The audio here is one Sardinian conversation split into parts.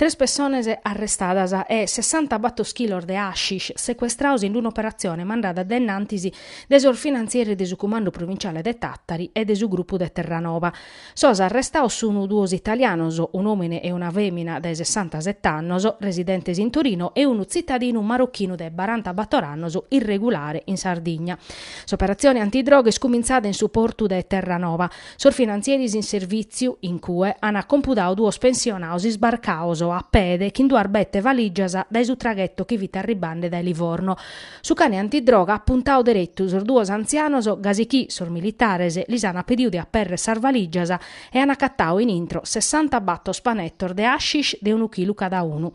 Tres pessones arrestadas e sessanta batos chilos de hashish secuestrados in un'operatzione mandada dae innantis de sos finantzieri de su Cumandu Provinciale de Tàtari e de su grupu de Terranova. Sos arrestados sun duos italianos, un'òmine e una fèmina dae sessanta sete annos, residentes in Torino e unu tzitadinu marochinu de baranta bator annos irregulare in Sardigna. S'operatzione antidroga est cumintzada in su portu de Terranova, Sos finantzieris in servìtziu, in cue, ant compudadu duos pensionados isbarcados a pede chin duas bete valìgias dae su traghetu chi fit arribande dae Livorno. Su cane antidroga at puntadu deretu sos duos antzianos gasi chi sos militares lis ant pedidu de aperrer sas valìgias e ant agatadu in intro sessanta batos panetos de hashish de unu chilu cadaunu.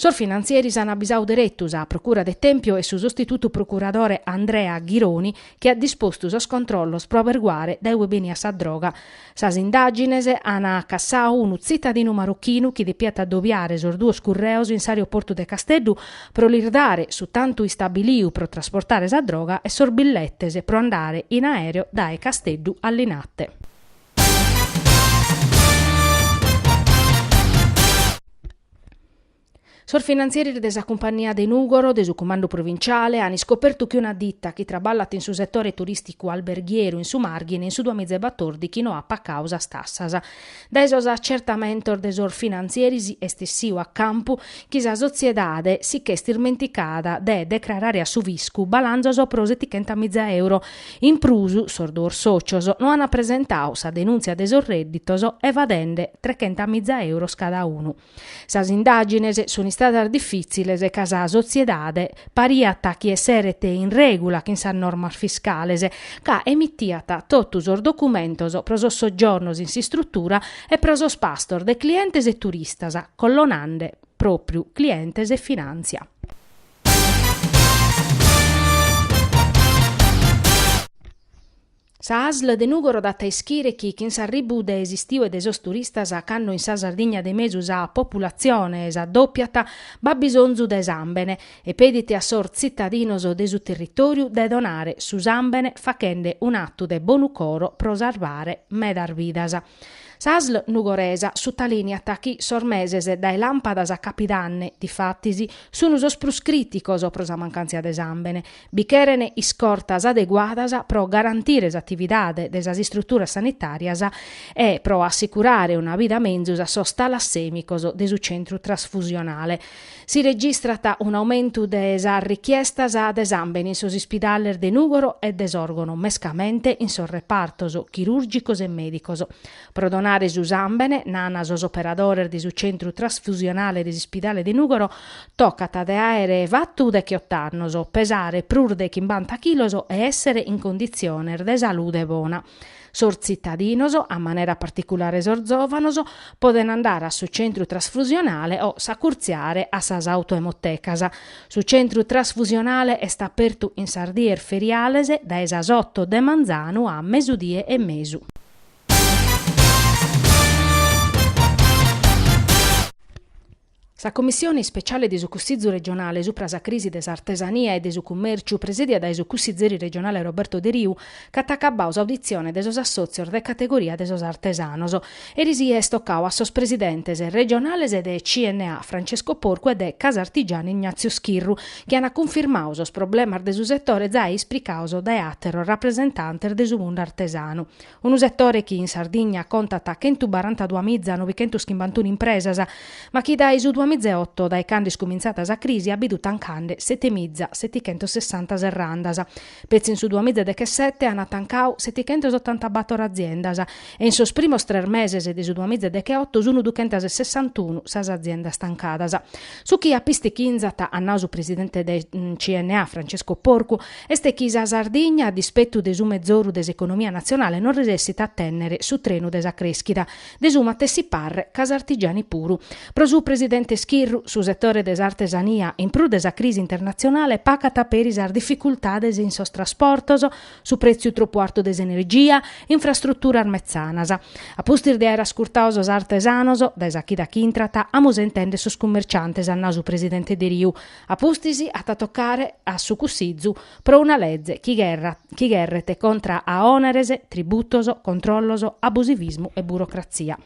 Sos finantzieris an abisau deretu sa Procura de Tempio e su sostitutu procuradore Andrea Ghironi chi at dispostu sos controllos pro aberguare dae ue beniat sa droga. Sas indàgines an cassadu unu tzitadinu marochinu chi depiat adobiare sos duos curreos in s'aeroportu de Casteddu pro lis dare su tantu istabiliu pro trasportare sa droga e sos billetes pro andare in aereo dae Casteddu a Linate. Sos finantzieris de sa cumpania de Nùgoro de su Cumandu Provinciale an iscopertu chi una dita chi traballat in su setore turìsticu alberghieru in su Màrghine in su duamiza e batordighi no at pacadu sas tassas. Dae sos atzertamentos de sos finantzieris est essiu a campu chi sa sotziedade si ch'est ismenticada de decrarare a su fiscu balanzos pro setichenta miza euro In prus, sos duos sòtzios no ant presentadu sa denùntzia de sos rèdditos evadende trechenta miza euros cada unu. Sas indàgines sunt istadas difìtziles ca sa sotziedade pariat chi esseret in règula chin sas normas fiscales ca emitiat totu sos documentos pro sos soggiornos in s'istrutura e pro sos pastos de clientes e turistas collonande pròpriu clientes e finàntzia. Sa asl de Nùgoro dat a ischire chi chin s'arribbu de s'istiu e de sos turistas cando in sa Sardigna de mesu sa populatzione s'addòpiat b'at bisonzu de sàmbene e pedit a sos tzitadinos de su territòriu de donare su sàmbene fachende un'atu de bonu coro pro sarvare medas vidas. Sa asl nugoresa sutalìniat chi sos meses dae làmpadas a capidanne, difatis, sun sos prus crìticos pro sa mancàntzia de sàmbene. Bi cheren iscortas adeguadas pro garantire s'atividade de sas istruturas sanitàrias e pro assicurare una bida menzus a sos talassèmicos de su centru trasfusionale. Si registrat un'aumentu de sas richiestas de sàmbene in sos ispidales de Nùgoro e de Sòrgono, mescamente in sos repartos chirùrgicos e mèdicos. Pro donare su sàmbene, nant sos operadores de su centru trasfusionale de s'ispidale de Nùgoro, tocat de àere fatu decheoto annos, pesare prus de chimbanta chilos e èssere in conditziones de salude bona. Sos tzitadinos, a manera particulare sos zòvanos, podent andare a su centru trasfusionale o s'acurtziare a sas autoemotecas. Su centru trasfusionale est apertu in sas dies feriales dae sas oto de manzanu a mesudie e mesu. Sa Commissione ispeciale de su Cussizu regionale supra sa crisi de s'artesania e de su cummèrciu, presèdia dae su cussizeri regionale Roberto Deriu, ch'at acabau s'auditzione de sos assòtzios de categoria de sos artesanos, eris est tocau a sos presidentes regionales de CNA Francesco Porcu e de Casartigiani Ignazio Schirru, chi ant cunfirmau sos problemas de su setore zai ispricaos dae àteros rapresentantes de su mundu artesanu. Unu setore chi in Sardigna contat chentu barantadua miza novichentus chimbantunu impresas, ma chi dae su duamizaeoto, dae cando est cumintzà sa crisi, at bidu tancande sete miza setichentus sessanta serrandas. Petzi in su duamizadechesete ant tancau setichentus otantabator aziendas e in sos primos tres meses de su duamizadecheoto sun duchentas sessantuna sas aziendas tancadas. Su chi apistichinzat, at nau su presidente de CNA, Francesco Porcu, Est chi sa Sardigna, a dispettu de su mezoru de s'economia natzionale, non resessit a tènnere su trenu de sa crèschida. De su matessi parre Casartigiani puru. Pro su presidente Schirru, su setore de s'artesania, in prus de sa crisi internatzionale, pacat peri sas dificultades in sos trasportos, su prètziu tropu artu de s'energia, infrastruturas metzanas. A pustis de àere ascurtau sos artesanos, dae sa chida chi intrat, amus a intèndere sos cummerciantes, at nau su presidente Deriu. A pustis at a tocare a su Cussizu pro una leze chi gherret contra a òneres, tributos, controllos, abusivismu e burocratzia.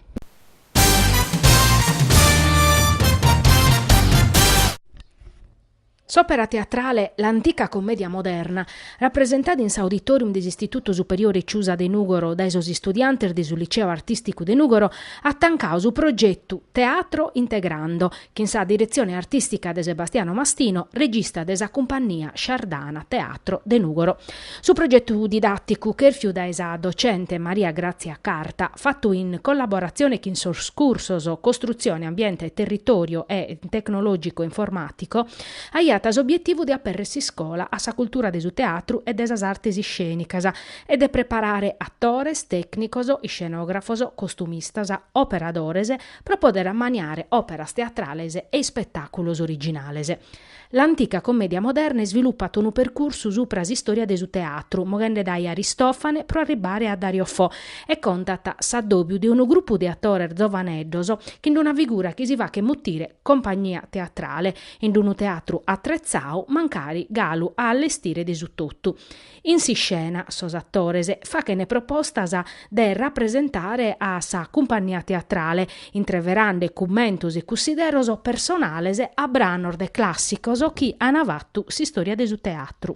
S'òpera teatrale L'antica commedia moderna, rapresentada in s'Auditorium de s'Istitutu Superiore Ciusa de Nùgoro dae sos istudiantes de su Liceu Artìsticu de Nùgoro, at tancau su progetu Teatro Integrando, chin sa diretzione artìstica de Sebastiano Mastino, regista de sa cumpannia Shardana Teatro de Nùgoro. Su progetu didàticu, chèrfiu dae sa docente Maria Grazia Carta, fatu in collaboratzione chin sos cursos Costruzione, Ambiente e Territorio e Tecnologico Informatico, aiat s'obietivu de apèrrere s'iscola a sa cultura de su teatru e de sas artes iscènicas e de preparare atores, tècnicos, iscenògrafos, costumistas, operadores, pro pòdere ammaniare òperas teatrales e ispetàculos originales. L'antica commedia moderna isvilupat unu percursu supra s'istòria de su teatru, moghende dae Aristòfane pro arribare a Dario Fo, e contat s'addòbiu de unu grupu de atores zovaneddos chin una figura chi si faghet mutire compagnia teatrale, in unu teatru atretzadu mancari galu a allestire de su totu. In s'iscena, sos atores faghent propostas de rapresentare a sa cumpannia teatrale, intreverande cummentos e cussideros personales a branos de clàssicos chi ant fatu s'istòria de su teatru.